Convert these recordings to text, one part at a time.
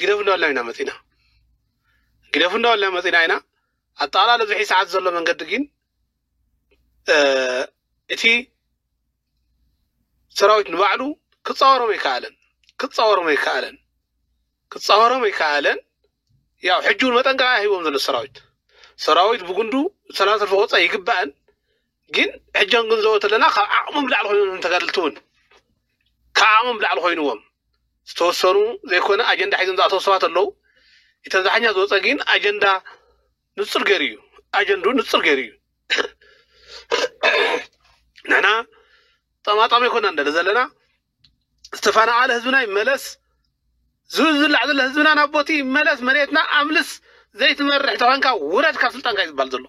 ግደፉ እንዳበልና ኢና መጺእና ግደፉ እንዳበልና መጺእና ኢና ኣጠቓላሊ ኣብዚ ሕዚ ሰዓት ዘሎ መንገዲ ግን እቲ ሰራዊት ንባዕሉ ክፃወሮም ኣይከኣለን ክፃወሮም ኣይከኣለን ክፃወሮም ኣይከኣለን ያው ሕጂ እውን መጠንቀቕያ ሂቦም ዘሎ ሰራዊት ሰራዊት ብጉንዱ ሰላም ሰልፊ ክወፅእ ይግባእን ግን ሕጂ ክንግንዘቦ ተለና ካብ ዓቕሞም ላዕሊ ኮይኑ ተጋደልቲ እውን ካብ ዓቕሞም ላዕሊ ኮይኑዎም ዝተወሰኑ ዘይኮነ ኣጀንዳ ሒዞም ዝኣተው ሰባት ኣለው እቲ ኣብዛሓኛ ዝወፀ ግን ኣጀንዳ ንፁር ገይሩ እዩ ኣጀንዱ ንፁር ገይሩ እዩ ንሕና ጠማጣሚ ኣይኮና ንደለ ዘለና ዝተፈናቐለ ህዝብና ይመለስ፣ ዝብላዕ ዘሎ ህዝብና ናብ ቦቲ ይመለስ፣ መሬትና ኣምልስ፣ ዘይትመርሕ ተኾንካ ውረድ ካብ ስልጣንካ እዩ ዝበሃል ዘሎ።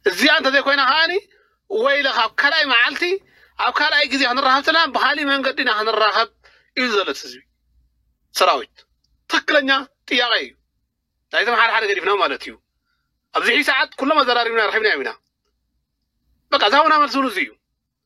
እዚኣ እንተዘይኮይና ከዓኒ ወይለኻ ኣብ ካልኣይ መዓልቲ ኣብ ካልኣይ ግዜ ክንራኸብ ተለና ብካሊእ መንገዲ ኢና ክንራኸብ እዩ ዘሎ እቲ ህዝቢ ሰራዊት ትክክለኛ ጥያቄ እዩ ናይቶም ሓደ ሓደ ገዲፍና ማለት እዩ ኣብዚ ሕጂ ሰዓት ኩሎም ኣዘራሪብና ረኪብና ኢና በቃ ዛሁና መልሲ እውን እዚ እዩ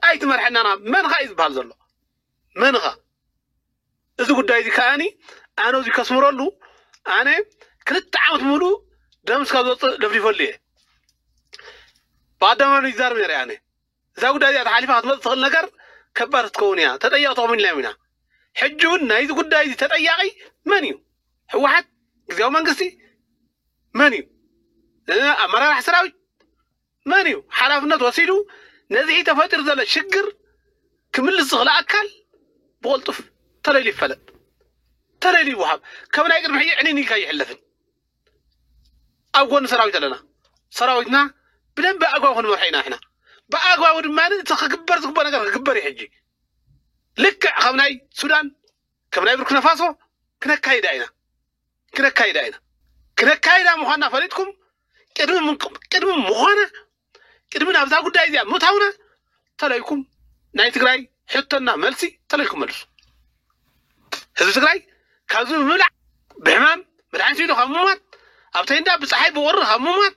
ታይ ትመርሐናና መን ኻዩ ዝበሃል ዘሎ መን ኻ እዚ ጉዳይ እዚ ከኣኒ ኣነ እዚ ከስምረሉ ኣነ ክልተ ዓመት ሙሉ ደምስ ካብ ዘውፅእ ደፍዲፈሉ እየ ብኣደባባይ ይዛረብ ነረ ኣነ እዛ ጉዳይ እዚኣ ተሓሊፋ ክትመፅእ ትኽእል ነገር ከባድ ክትከውን እያ ተጠያቂ ተኾሚን ኢልና ኢና ሕጂ እውን ናይዚ ጉዳይ እዚ ተጠያቂ መን እዩ ህወሓት ግዜያዊ መንግስቲ መን እዩ ኣመራራሕ ሰራዊት መን እዩ ሓላፍነት ወሲዱ ነዝሒ ተፈጢሩ ዘሎ ሽግር ክምልስ ዝኽእል ኣካል ብቕልጡፍ ተለይሉ ይፈለጥ፣ ተለይሉ ይወሃብ። ከም ናይ ቅድሚ ሕጂ ዕኒን ኢልካ ኣይሕለፍን። ኣብ ጎኒ ሰራዊት ኣለና። ሰራዊትና ብደንቢ ኣግባብ ክንመርሖ ኢና ንሕና። ብኣግባቡ ድማ እቲ ክግበር ዝግበኦ ነገር ክግበር እዩ ሕጂ። ልክዕ ከም ናይ ሱዳን ከም ናይ ቡርኪናፋሶ ክነካይዳ ኢና። ክነካይዳ ኢና ክነካይዳ ምዃንና ፈሊጥኩም ቅድሚ ምንቅ- ቅድሚ ምዃና ቅድሚ ናብዛ ጉዳይ እዚኣ ምእታውና ተለይኩም ናይ ትግራይ ሕቶና መልሲ ተለይኩም መልሱ ህዝቢ ትግራይ ካብዚ ብምብላዕ ብሕማም መድሓኒት ኢሉ ካብ ምሟት ኣብ ተይንዳ ብፀሓይ ብቁሪ ካብ ምሟት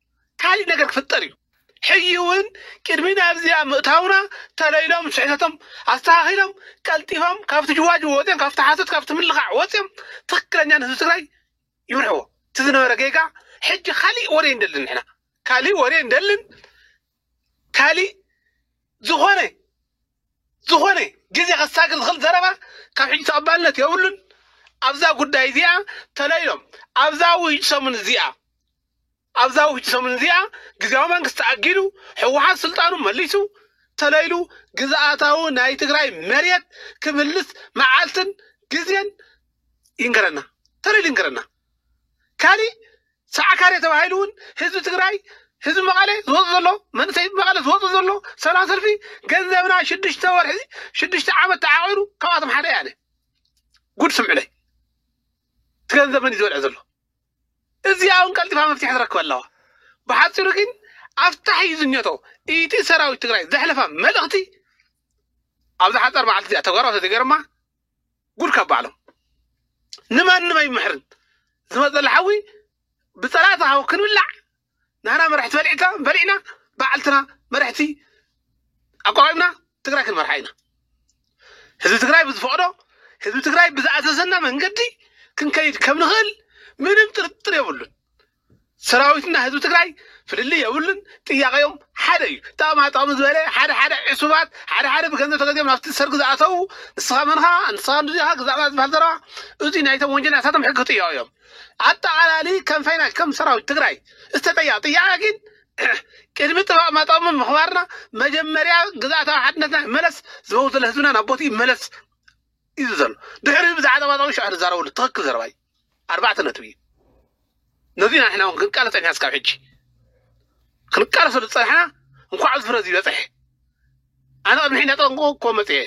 ካሊእ ነገር ክፍጠር እዩ ሕጂ እውን ቅድሚ ናብዚኣ ምእታውና ተለይሎም ስሕተቶም ኣስተኻኺሎም ቀልጢፎም ካብቲ ጅዋጅው ወፅዮም ካብቲ ሓሶት ካብቲ ምልኻዕ ወፅዮም ትክክለኛ ንህዝቢ ትግራይ ይምርሕዎ እቲ ዝነበረ ጌጋ ሕጂ ካሊእ ወሬ እንደልን ንሕና ካሊእ ወሬ እንደልን ካሊእ ዝኾነ ዝኾነ ግዜ ከሳግር ዝኽእል ዘረባ ካብ ሕጂ ተቐባልነት የብሉን። ኣብዛ ጉዳይ እዚኣ ተለይሎም ኣብዛ ውህጅ ሰሙን እዚኣ ኣብዛ ውህጅ ሰሙን እዚኣ ግዜያዊ መንግስቲ ተኣጊዱ ህወሓት ስልጣኑ መሊሱ ተለይሉ ግዝኣታዊ ናይ ትግራይ መሬት ክምልስ መዓልትን ግዜን ይንገረና ተለይሉ ይንገረና። ካሊእ ሰዓካሬ ተባሂሉ እውን ህዝቢ ትግራይ ህዝቢ መቐለ ዝወፅ ዘሎ መንእሰይ መቐለ ዝወፅ ዘሎ ሰላም ሰልፊ ገንዘብና ሽዱሽተ ወርሒ ሽዱሽተ ዓመት ተዓቂሩ ካብኣቶም ሓደ ያነ ጉድ ስምዑለይ እቲ ገንዘብ መን እዩ ዝበልዐ ዘሎ እዚኣ እውን ቀልጢፋ መፍትሒ ትረክበ ኣለዋ ብሓፂሩ ግን ኣፍታሕ እዩ ዝኘቶ ኢቲ ሰራዊት ትግራይ ዘሕለፋ መልእኽቲ ኣብዚ ሓፃር መዓልቲ እዚኣ ተግባራዊ ተዘይገርማ ጉድ ካብ ባዕሎም ንማንም ኣይምሕርን ዝመፅ ዘሎ ሓዊ ብፀላእቲ ሃው ክንብላዕ ንሕና መራሕቲ በሊዕታ በሊዕና በዓልትና መራሕቲ ኣቋቂምና ትግራይ ክንመርሓ ኢና ህዝቢ ትግራይ ብዝፈቅዶ ህዝቢ ትግራይ ብዝኣዘዘና መንገዲ ክንከይድ ከም ንኽእል ምንም ጥርጥር የብሉን ሰራዊትና ህዝቢ ትግራይ ፍልልይ የብሉን። ጥያቄኦም ሓደ እዩ። ጣቕማ ጣቕሚ ዝበለ ሓደ ሓደ ዕሱባት ሓደ ሓደ ብገንዘብ ተገዚኦም ናብቲ ሰርግ ዝኣተዉ ንስኻ መንኻ ንስኻ ንዚኻ ግዛእና ዝበሃል ዘረባ እዚ ናይቶም ወንጀላታቶም ሕጊ ክጥየቑ እዮም። ኣጠቓላሊ ከም ፈይናሽ ከም ሰራዊት ትግራይ ዝተጠየቐ ጥያቄ ግን ቅድሚ ጥባቕ ማጣቕሚ ምኽባርና መጀመርያ ግዛእታዊ ሓድነትና ይመለስ ዝመውት ዘሎ ህዝብና ናብ ቦትኡ ይመለስ እዩ ዘሎ ድሕሪ እዚ ብዛዕባ ጣብያ ጣብያ ሽዑ ንዛረበሉ ትኽክል ዘረባ እዩ ኣርባዕተ ነጥቢ እዩ ነዚ ኢና ንሕና እውን ክንቃለ ፀኒሕና እስካብ ሕጂ ክንቃለሰሉ ዝፀናሕና እንኳዕ ኣብዚ ፍረ እዚ በፅሐ ኣነ ቅድሚ ሕጂ እንዳጠንቀቑ እኮ መፅየ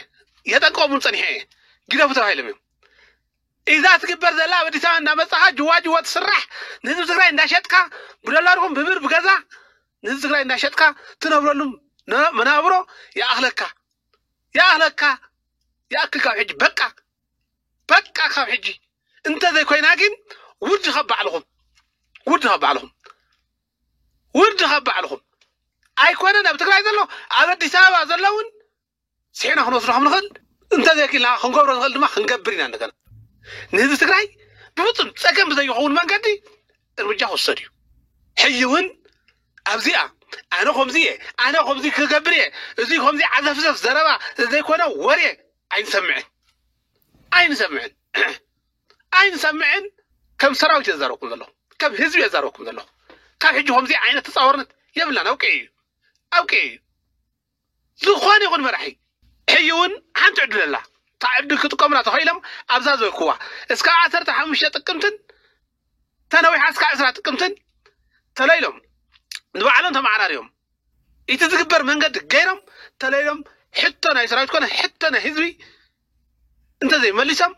የጠንቀቑ እውን ፀኒሐ እየ ግደፉ ተባሂሎም እዮም ኢዛ ትግበር ዘላ ኣብ ኣዲስ ኣበባ እንዳመፃኻ ጅዋ ጅዋ ትስራሕ ንህዝቢ ትግራይ እንዳሸጥካ ብዶላር ይኹን ብብር ብገዛ ንህዝቢ ትግራይ እንዳሸጥካ ትነብረሉ ነ- መናብሮ ይኣኽለካ ይኣክለካ ይኣክል ካብ ሕጂ በቃ በቃ ካብ ሕጂ እንተዘይ ኮይና ግን ውርድ ካብ ባዕልኹም ውርድ ካብ ባዕልኹም ውርድ ካብ ባዕልኹም ኣይኮነን ኣብ ትግራይ ዘሎ ኣብ ኣዲስ ኣበባ ዘሎ እውን ስሒና ክንወስዶ ከም ንኽእል እንተዘይክልና ክንገብሮ ንኽእል ድማ ክንገብር ኢና እንደገና ንህዝቢ ትግራይ ብፍፁም ፀገም ብዘይኸውን መንገዲ እርምጃ ክውሰድ እዩ ሕጂ እውን ኣብዚኣ ኣነ ከምዚ እየ ኣነ ከምዚ ክገብር እየ እዚ ከምዚ ዓዘፍዘፍ ዘረባ ዘይኮነ ወሬ ኣይንሰምዕን ኣይንሰምዕን ኣይንሰምዕን ከም ሰራዊት እየ ዘረብኩም ዘለኹ ከም ህዝቢ እየ ዘረብኩም ዘለኹ ካብ ሕጂ ከምዚ ዓይነት ተፃወርነት የብላን ኣብቂ እዩ ኣብቂ እዩ ዝኾነ ይኹን መራሒ ሕይ እውን ሓንቲ ዕድል ኣላ እታ ዕድል ክጥቀሙላ ተኸኢሎም ኣብዛ ዝበልክዋ እስካብ ዓሰርተ ሓሙሽተ ጥቅምትን ተነዊሓ እስካብ ዕስራ ጥቅምትን ተለይሎም ንባዕሎም ተመዓራርዮም እቲ ዝግበር መንገዲ ገይሮም ተለይሎም ሕቶ ናይ ሰራዊት ኮነ ሕቶ ናይ ህዝቢ እንተዘይመሊሶም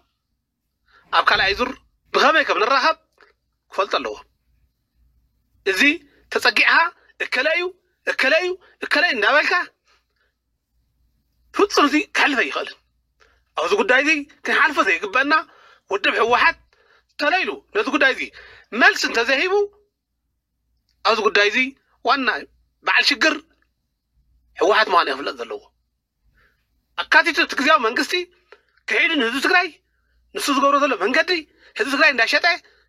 ኣብ ካልኣይ ዙር ብኸመይ ከም ንራኸብ ክፈልጡ ኣለዎም። እዚ ተጸጊዕኻ እከለ እዩ እከለ እዩ እከለ እዩ እንዳበልካ ፍጹም እዚ ክሕልፍ ኣይኽእልን። ኣብዚ ጉዳይ እዚ ክንሓልፎ ዘይግበአና ውድብ ህወሓት ተሎ ኢሉ ነዚ ጉዳይ እዚ መልሲ እንተዘይሂቡ ኣብዚ ጉዳይ እዚ ዋና በዓል ሽግር ህወሓት ምዃኑ ክፍለጥ ዘለዎ ኣካቲቱ እቲ ግዜያዊ መንግስቲ ክሒዱ ንህዝቢ ትግራይ ንሱ ዝገብሮ ዘሎ መንገዲ ህዝቢ ትግራይ እንዳሸጠ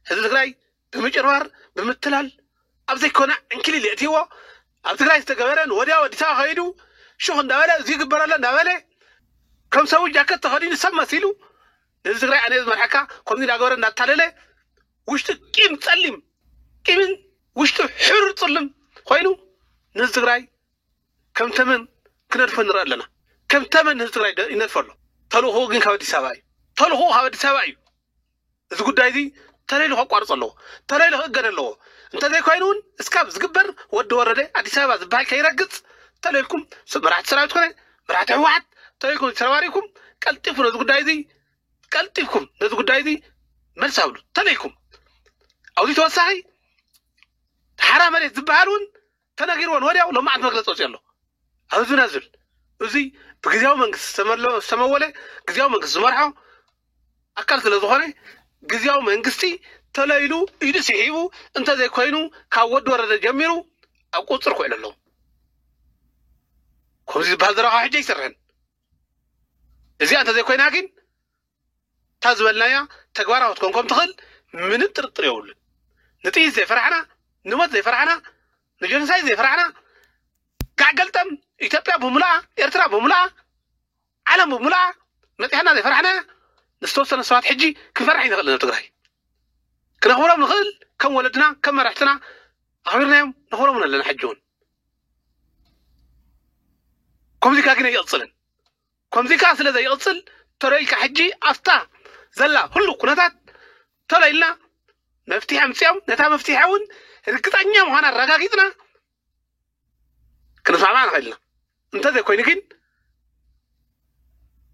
ህዝቢ ትግራይ ብምጭርባር ብምትላል ኣብ ዘይኮነ ዕንኪሊል የእትይዎ ኣብ ትግራይ ዝተገበረ ንወዲያው ኣዲስ ኣበባ ከይዱ ሹኽ እንዳበለ እዚ ይግበር ኣሎ እንዳበለ ከም ሰቡ ጃከት ተኸዲኑ ሰብ መሲሉ ንህዝቢ ትግራይ ኣነ ዝመርሐካ ከምዚ እንዳገበረ እንዳታለለ ውሽጡ ቂም ጸሊም ቂምን ውሽጡ ሕሩር ጽልም ኮይኑ ንህዝቢ ትግራይ ከም ተመን ክነድፎ ንርኢ ኣለና። ከም ተመን ህዝቢ ትግራይ ደ- ይነድፎ ኣሎ። ተልእኾኡ ግን ካብ ኣዲስ ኣበባ እዩ። ተልእኾኡ ካብ ኣዲስ ኣበባ እዩ። እዚ ጉዳይ እዚ ተለይሉ ከቋርፅ ኣለዎ ተለይሉ ክእገድ ኣለዎ እንተዘይኮይኑ እውን እስካብ ዝግበር ወዲ ወረደ ኣዲስ ኣበባ ዝበሃል ከይረግፅ ተለይልኩም ስ- መራሕቲ ሰራዊት ኮነ መራሕቲ ህወሓት ተለይልኩም ተረባሪብኩም ቀልጢፉ ነዚ ጉዳይ እዚ ቀልጢፍኩም ነዚ ጉዳይ እዚ መልስ ኣብሉ ተለይልኩም ኣብዚ ተወሳኺ ሓራ መሬት ዝበሃል እውን ተነጊርወን ወዲያው ሎማዓንቲ መግለፂ ወፂኡ ኣሎ ኣብ ህዝብና ዝብል እዚ ብግዜያዊ መንግስቲ ዝተመለ- ዝተመወለ ግዜያዊ መንግስቲ ዝመርሖ ኣካል ስለ ዝኾነ ግዜያዊ መንግስቲ ተለይሉ ኢዱ ስሒቡ እንተዘይኮይኑ ካብ ወዲ ወረደ ጀሚሩ ኣብ ቁፅር ክውዕሉ ኣለዎ ከምዚ ዝበሃል ዘረባ ካብ ሕጂ ኣይሰርሕን እዚኣ እንተዘይኮይና ግን እታ ዝበልናያ ተግባራዊ ክትኮን ከም ትኽእል ምንም ጥርጥር የብሉን። ንጥይት ዘይፈራሕና፣ ንሞት ዘይፈራሕና፣ ንጀኖሳይድ ዘይፈራሕና፣ ጋዕ ገልጠም ኢትዮጵያ ብምሉኣ፣ ኤርትራ ብምሉኣ፣ ዓለም ብምሉኣ መጺሓና ዘይፈራሕናያ ንዝተወሰነ ሰባት ሕጂ ክንፈርሕ ኣይንኽእልን ኣብ ትግራይ። ክነኽብሮም ንኽእል ከም ወለድና ከም መራሕትና ኣኽቢርናዮም ነኽብሮም እውን ኣለና ሕጂ እውን ከምዚ ጋጊነ ይቕጽልን ከምዚ ከኣ ስለ ዘይቕጽል ተሎ ኢልካ ሕጂ ኣብታ ዘላ ህሉው ኩነታት ተሎ ኢልና መፍትሒ ኣምጺኦም ነታ መፍትሒ እውን ርግጸኛ ምዃና ኣረጋጊጽና ክንስማዕማዕ ንኽእል ኢና እንተዘይኮይኑ ግን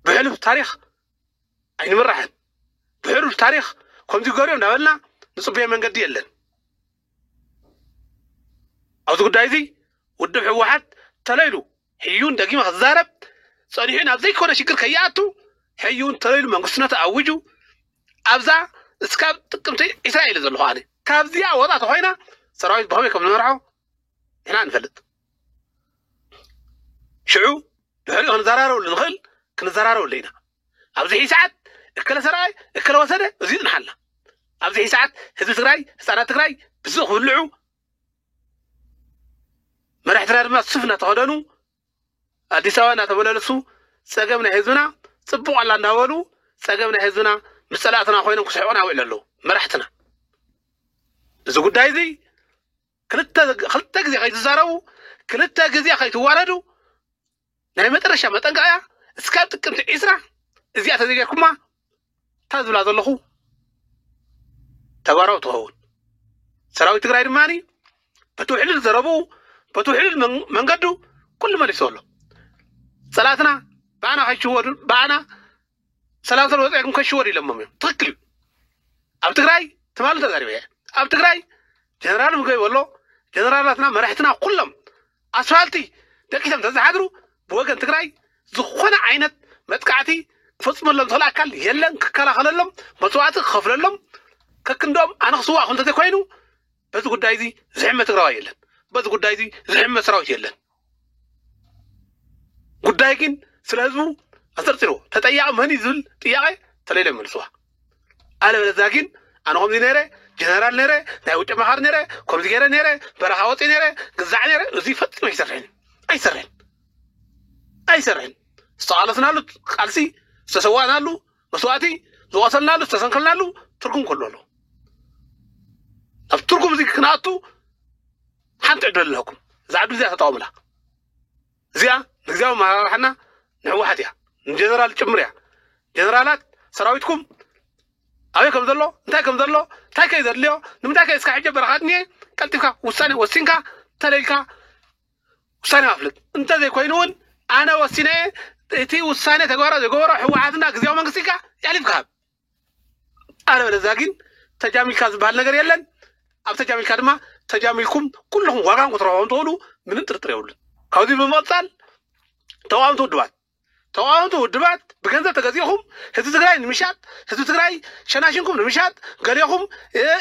ብሕሉፍ ታሪኽ ኣይንምራሕን ብሕሉፍ ታሪኽ ከምዚ ገርዮ እንዳበልና ንፅበዮ መንገዲ የለን ኣብዚ ጉዳይ እዚ ውድብ ህወሓት ተለይሉ ሕዩን ደጊመ ክዛረብ ጸኒሑ ናብ ዘይኮነ ሽግር ከይኣቱ ሕዩን ተሎ ኢሉ መንግስትነቱ ኣዊጁ ኣብዛ እስካብ ጥቅምቲ ዒስራ ኢለ ዘለኹ ኣነ ካብዚኣ ወጻእ ተኾይና ሰራዊት ብኸመይ ከም ዝመርሖ ንሕና ንፈልጥ ሽዑ ድሕሪኡ ክንዘራረበሉ ንኽእል ክንዘራረበሉ ኢና ኣብዚ ሕይ ሰዓት እከለ ሰራይ እከለ ወሰደ እዚ ይጽንሓልና ኣብዚ ሕይ ሰዓት ህዝቢ ትግራይ ህፃናት ትግራይ ብስእ ክብልዑ መራሕትና ድማ ሱፍ እናተኸደኑ ኣዲስ ኣበባ እናተመላለሱ ፀገም ናይ ህዝብና ፅቡቕ ኣላ እንዳበሉ ፀገም ናይ ህዝብና ምስ ፀላእትና ኮይኖም ክስሕቑና ይውዕሉ ኣለዉ መራሕትና እዚ ጉዳይ እዚ ክልተ ግዜ ከይትዛረቡ ክልተ ግዜ ከይትዋረዱ ናይ መጨረሻ መጠንቀቕያ እስካብ ጥቅምቲ ዒስራ እዚኣ ተዘይጌርኩማ እታ ዝብላ ዘለኹ ተግባራዊ ትኸውን ሰራዊት ትግራይ ድማ በቲ ውሕልል ዘረብኡ በቲ ውሕልል መንገዱ ኩሉ መሊሶ ኣሎ ፀላትና ብኣና ከይሽወዱ ብኣና ሰላም ሰልፊ ወፂዕኩም ከሽወር ኢሎሞም እዮም ትክክል እዩ ኣብ ትግራይ ትማሊ ተዛሪበ እየ ኣብ ትግራይ ጀነራል ምግበይ በሎ ጀነራላትና መራሕትና ኩሎም ኣስፋልቲ ደቂሶም ተዝሓድሩ ብወገን ትግራይ ዝኾነ ዓይነት መጥቃዕቲ ክፈፅመሎም ዝኽእል ኣካል የለን ክከላኸለሎም መስዋዕቲ ክኸፍለሎም ከክንዶም ኣነ ክስዋእ እንተዘይኮይኑ በዚ ጉዳይ እዚ ዝሕመ ትግራዋይ የለን። በዚ ጉዳይ እዚ ዝሕመ ሰራዊት የለን። ጉዳይ ግን ስለ ህዝቡ ኣንፀርፂርዎ ተጠያቂ መን እዩ ዝብል ጥያቄ ተለይለ መልስዋ ኣለበለዛ ግን ኣነ ከምዚ ነይረ ጀነራል ነይረ ናይ ውጭ መኻር ነይረ ከምዚ ገይረ ነይረ በረኻ ወፂ ነይረ ግዛዕ ነይረ እዚ ፈፂሙ ኣይሰርሕን ኣይሰርሕን ኣይሰርሕን ዝተቃለስናሉ ቃልሲ ዝተሰዋእናሉ መስዋእቲ ዝቆሰልናሉ ዝተሰንከልናሉ ትርጉም ከሎ ኣሎ ኣብ ትርጉም እዚ ክንኣቱ ሓንቲ ዕድል ኣለኩም እዛ ዕድል እዚኣ ተጠቐሙላ እዚኣ ንግዚያዊ መራርሓና ንሕወሓት እያ ንጀነራል ጭምር እያ ጀነራላት ሰራዊትኩም ኣበይ ከም ዘሎ እንታይ ከም ዘሎ እንታይ ከይ ዘድልዮ ንምንታይ ከ እስካ ሕጂ በረኻት እኒኤ ቀልጢፍካ ውሳኔ ወሲንካ ተለልካ ውሳኔ ከፍልጥ እንተዘይኮይኑውን ኣነ ወሲነ እቲ ውሳኔ ተግባራ ዝገበሮ ህወሓትና ግዜያዊ መንግስቲ ኢልካ የሕሊፍካ ሃብ ኣለበለዛ ግን ተጃሚልካ ዝበሃል ነገር የለን ኣብ ተጃሚልካ ድማ ተጃሚልኩም ኩልኹም ዋጋን ክትረኽቦም ትኽእሉ ምንም ጥርጥር የብሉን ካብዚ ብምቕፃል ተቃወምቲ ውድባት ተቃወምቲ ውድባት ብገንዘብ ተገዚእኹም ህዝቢ ትግራይ ንምሻጥ ህዝቢ ትግራይ ሸናሽንኩም ንምሻጥ ገሌኹም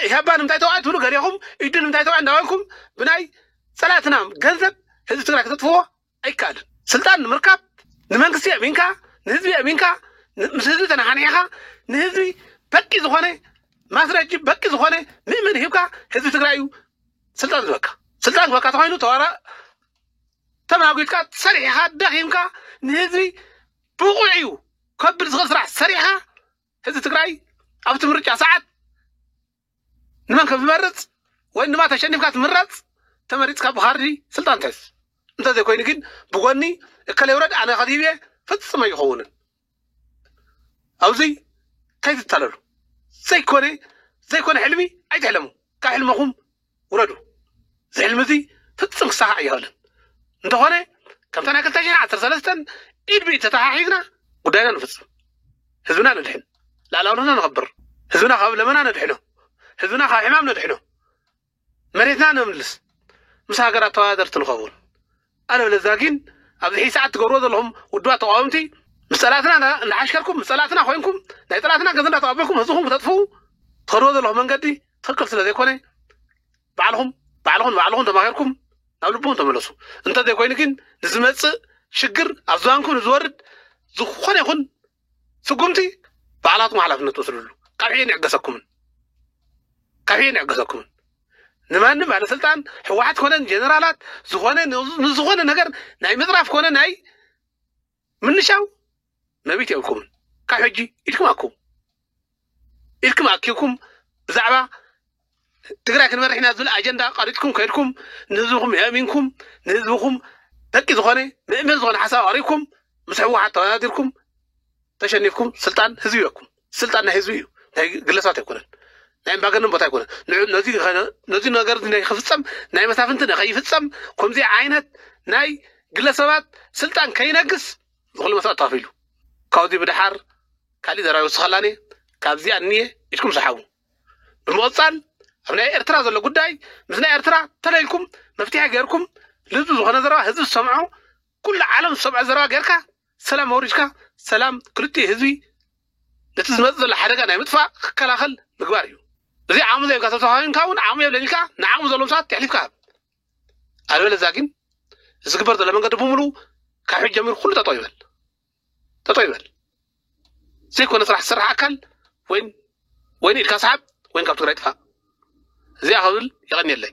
ኢህባ ንምንታይ ተውዓል ትብሉ ገሌኹም ኢዱ ንምንታይ ተውዓል እንዳበልኩም ብናይ ፀላእትና ገንዘብ ህዝቢ ትግራይ ከተጥፍዎ ኣይከኣልን ስልጣን ንምርካብ ንመንግስቲ የእሚንካ ንህዝቢ የእሚንካ ን- ምስ ህዝቢ ተነሓኒሕኻ ንህዝቢ በቂ ዝኾነ ማስረጂ በቂ ዝኾነ ምእመን ሂብካ ህዝቢ ትግራይ እዩ ስልጣን ዝበካ ስልጣን ዝበካ ተኮይኑ ተዋራ ተማጒትካ ሰሪሕኻ ደኺምካ ንህዝቢ ብቑዕ እዩ ከብል ዝኽእል ስራሕ ሰሪሕኻ ህዝቢ ትግራይ ኣብቲ ምርጫ ሰዓት ንመን ከም ዝመርፅ ወይ ድማ ተሸኒፍካ ትምረፅ ተመሪፅካ ብካርዲ ስልጣን ትሕዝ እንተዘይኮይኑ ግን ብጎኒ እከለ ይውረድ ኣነ ከዚብ እየ ፍፅም ኣይኸውንን ኣብዙይ ከይትታለሉ ዘይኮነ ዘይኮነ ሕልሚ ኣይትሕለሙ ካብ ሕልመኹም ውረዱ እዚ ሕልሚ እዚ ፍፅም ክሳኻዕ ኣይኸእልን እንተኾነ ከምታ ናይ ክልተ ሽሕ ዓሰርተ ሰለስተን ኢድ ብኢድ ተተሓሒዝና ጉዳይና ንፍፅም ህዝብና ነድሕን ላዕላውነትና ነኸብር ህዝብና ካብ ለመና ነድሕኖ ህዝብና ካብ ሕማም ነድሕኖ መሬትና ነምልስ ምስ ሃገራት ተወዳደርቲ ንኸውን ኣለበለዛ ጊን ኣብዚ ሕጂ ሰዓት ትገብርዎ ዘለኹም ውድባት ተቓወምቲ ምስ ጸላእትና እንዳ እንዳሓሽከርኩም ምስ ጸላእትና ኮይንኩም ናይ ጸላእትና ገንዘብ እንዳተቐበልኩም ህዝብኹም ክተጥፍኡ ትኸድዎ ዘለኹም መንገዲ ትኽክል ስለ ዘይኮነ ባዕልኹም ባዕልኹም ንባዕልኹም ተማኺርኩም ናብ ልብኹም ተመለሱ እንተ ዘይኮይኑ ግን ንዝመጽእ ሽግር ኣብ ዝባንኩም ንዝወርድ ዝኾነ ይኹን ስጉምቲ ባዕላትኩም ሓላፍነት ትወስድሉ ካብ ሕጂ ንዕገሰኩምን ካብ ሕጂ ንዕገሰኩምን ንማንም ባለስልጣን ሕወሓት ኮነ ጀነራላት ዝኾነ ንዝኾነ ነገር ናይ ምፅራፍ ኮነ ናይ ምንሻው መብት የብልኩምን ካብ ሕጂ ኢድኩም ኣኩም ኢልኩም ኣኪብኩም ብዛዕባ ትግራይ ክንመርሕ ኢና ዝብል ኣጀንዳ ቀሪፅኩም ከድኩም ንህዝብኩም የእሚንኩም ንህዝብኩም በቂ ዝኾነ ምእምን ዝኾነ ሓሳብ ኣቕሪብኩም ምስ ሕወሓት ተወዳዲርኩም ተሸኒፍኩም ስልጣን ህዝቢ ይበኩም ስልጣን ናይ ህዝቢ እዩ ናይ ግለሰባት ኣይኮነን ናይ እምባገነን ቦታ ኣይኮነን ነዚ ነገር ናይ ክፍፀም ናይ መሳፍንቲ ንከይፍፀም ከምዚ ዓይነት ናይ ግለሰባት ስልጣን ከይነግስ ብኹሉ መስዋእቲ ተኸፊሉ ካብዚ ብደሓር ካሊእ ዘረባ ይውስኸላኒ ካብዚኣ እንየ ኢድኩም ሰሓቡ ብምቕፃል ኣብ ናይ ኤርትራ ዘሎ ጉዳይ ምስ ናይ ኤርትራ ተለይልኩም መፍትሒ ገይርኩም ልዝቢ ዝኾነ ዘረባ ህዝቢ ዝሰምዖ ኩሉ ዓለም ዝሰምዖ ዘረባ ገይርካ ሰላም ኣውሪድካ ሰላም ክልቲኡ ህዝቢ ነቲ ዝመፅእ ዘሎ ሓደጋ ናይ ምጥፋእ ክከላኸል ምግባር እዩ እዚ ዓቕሚ ዘይብካ ተተዋሂንካ እውን ዓቕሚ የብለኝ ኢልካ ንዓቕሚ ዘለዎም ሰባት የሕሊፍካ ሃብ ኣልበለዛ ግን እዚ ግበር ዘሎ መንገዲ ብምሉ ካብ ሕጂ ጀሚሩ ኩሉ ጠጠው ይበል ጠጠው ይበል ዘይኮነ ስራሕ ዝስራሕ ኣካል ወይን ወይን ኢድካ ሰሓብ ወይን ካብ ትግራይ ጥፋእ እዚኣ ክብል የቐኒየለይ